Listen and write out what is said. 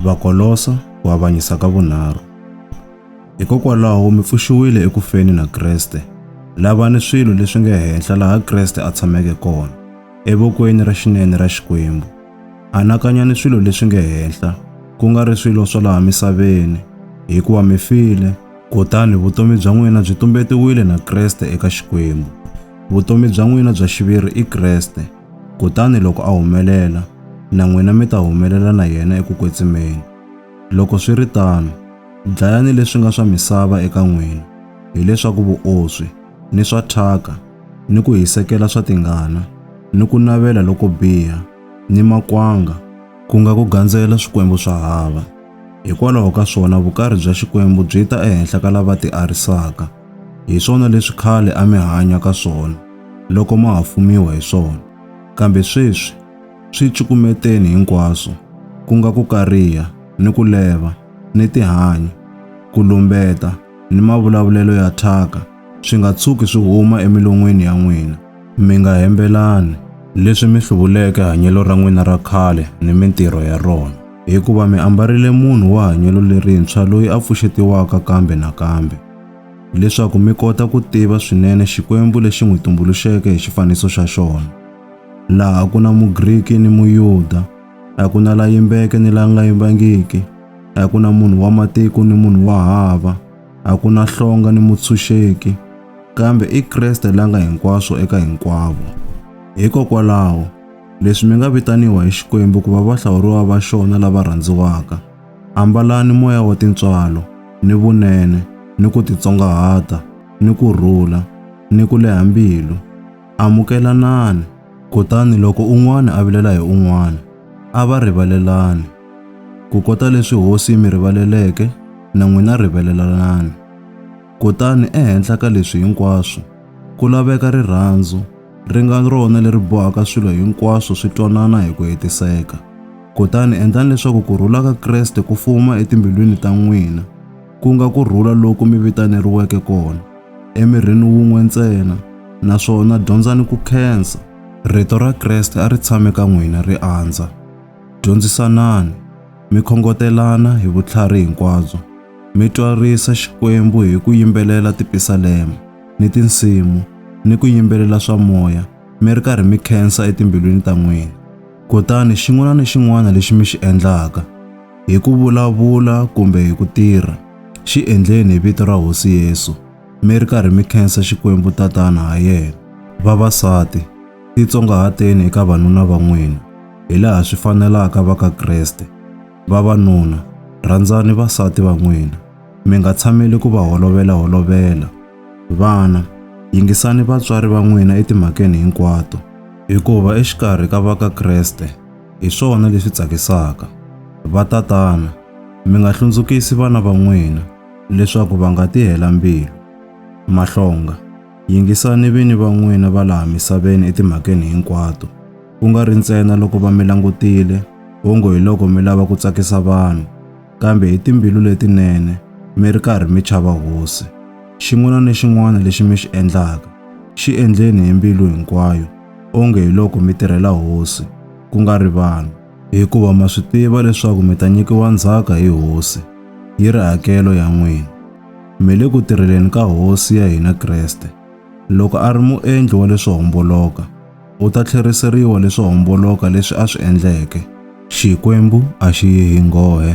Vakolosa ku avanyisa ka vunharhu. Hikokwalaho mi pfuxiwile eku feni na Kreste. Lavani swilo leswi nga henhla laha Kreste a tshameke kona, evokweni ra xinene ra Xikwembu. Anakanyani swilo leswi nga henhla, ku nga ri swilo swa laha misaveni, hikuva mi file, kutani vutomi bya n'wina byi tumbetiwile na Kreste eka Xikwembu. Vutomi bya n'wina bya xiviri i Kreste. Kutani loko a humelela, na n'wina mi ta humelela na yena eku kwetsimeni. Loko swi ri tano, dlayani leswi nga swa misava eka n'wina, hi leswaku vuoswi, ni swa thyaka, ni ku hisekela swa tingana, ni ku navela loko biha, ni makwanga, ku nga ku gandzela swikwembu swa hava, hikwalaho ka swona vukarhi bya Xikwembu byi ta ehenhla ka lava tiarisaka, Hi swona leswi khale a mi hanya ka swona loko ma ha fumiwa hi swona, kambe sweswi swi cukumeteni hinkwaswo, ku nga ku kariha ni ku leva ni tihanyi, ku lumbeta ni mavulavulelo ya thyaka swi nga tshuki swi huma emilon'wini ya n'wina. Mi nga hembelani leswi mi hluvuleke hanyelo ra n'wina ra khale ni mintirho ya rona, hikuva mi ambarile munhu wa hanyelo lerintshwa loyi a pfuxetiwaka kambe na kambe, leswaku mi kota ku tiva swinene Xikwembu lexi n'wi tumbuluxeke hi xifaniso xa xona, laha a ku na Mugriki ni Muyuda, a ku na la yimbeke ni la nga yimbangiki, a ku na munhu wa matiko ni munhu wa hava. a ku na hlonga ni mutshunxeki, kambe i Kreste la nga hinkwaswo eka hinkwavo. Hikokwalaho, leswi mi nga vitaniwa hi Xikwembu ku va vahlawuriwa va xona lava rhandziwaka, ambalani moya wa tintswalo, ni vunene, ni ku titsongahata, ni ku rhula, ni ku leha mbilu. Amukelanani. Kutani loko un'wana a vilela hi un'wana, a va rivalelani. Kukota leswi hosi yi mi rivaleleke, na n'wina rivelelanani. Kutani ehenhla ka leswi hinkwaswo, ku laveka rirhandzu, ri nga rona leri bohaka swilo hinkwaswo swi twanana hi ku hetiseka. Kutani endlani leswaku ku rhula ka Kreste ku fuma etimbilwini ta n'wina, ku nga ku rhula loku mi vitaneriweke kona, emirhini wun'we ntsena, naswona dyondzani ku khensa. Rito ra Kreste a ri tshame ka n'wina, ri andza. Dyondzisanani, mi khongotelana hi vutlhari hinkwabyo, mi twarisa Xikwembu hi ku yimbelela tipisalema ni tinsimu ni ku yimbelela swa moya mi ri karhi mi khensa etimbilwini ta n'wina. Kutani xin'wana ni xin'wana lexi mi xi endlaka, hi ku vulavula kumbe hi ku tirha, xi endleni hi vito ra Hosi Yesu, mi ri karhi mi khensa Xikwembu Tatana ha yena. Vavasati, Titsongahateni eka vanuna va n'wina, hi laha swi fanelaka va ka Kreste. Vavanuna, rhandzani vasati va n'wina, mi nga tshameli ku va holovela-holovela. Vana, yingisani vatswari va n'wina etimhakeni hinkwato. Hikuva exikarhi ka va ka Kreste, hi swona leswi tsakisaka. Vatatana, mi nga hlundzukisi vana va n'wina, leswaku va nga ti hela mbilu. Mahlonga. Yingisani vini va n'wina va laha misaveni etimhakeni hinkwato, ku nga ri ntsena loko va mi langutile ongo hi loko mi lava ku tsakisa vanhu, kambe hi timbilu letinene, mi ri karhi mi chava Hosi. Xin'wana ni xin'wana lexi mi xi endlaka, xi endleni hi mbilu hinkwayo, onge hi loko mi tirhela Hosi, ku nga ri vanhu. Hikuva ma swi tiva leswaku mi ta nyikiwa ndzhaka hi Hosi, yi ri hakelo ya n'wina. mi le ku tirheleni ka Hosi ya hina Kreste. Loko a ri muendli wa leswo homboloka, u ta tlheriseriwa leswo homboloka leswi a swi endleke. Xikwembu a xi yi hi nghohe.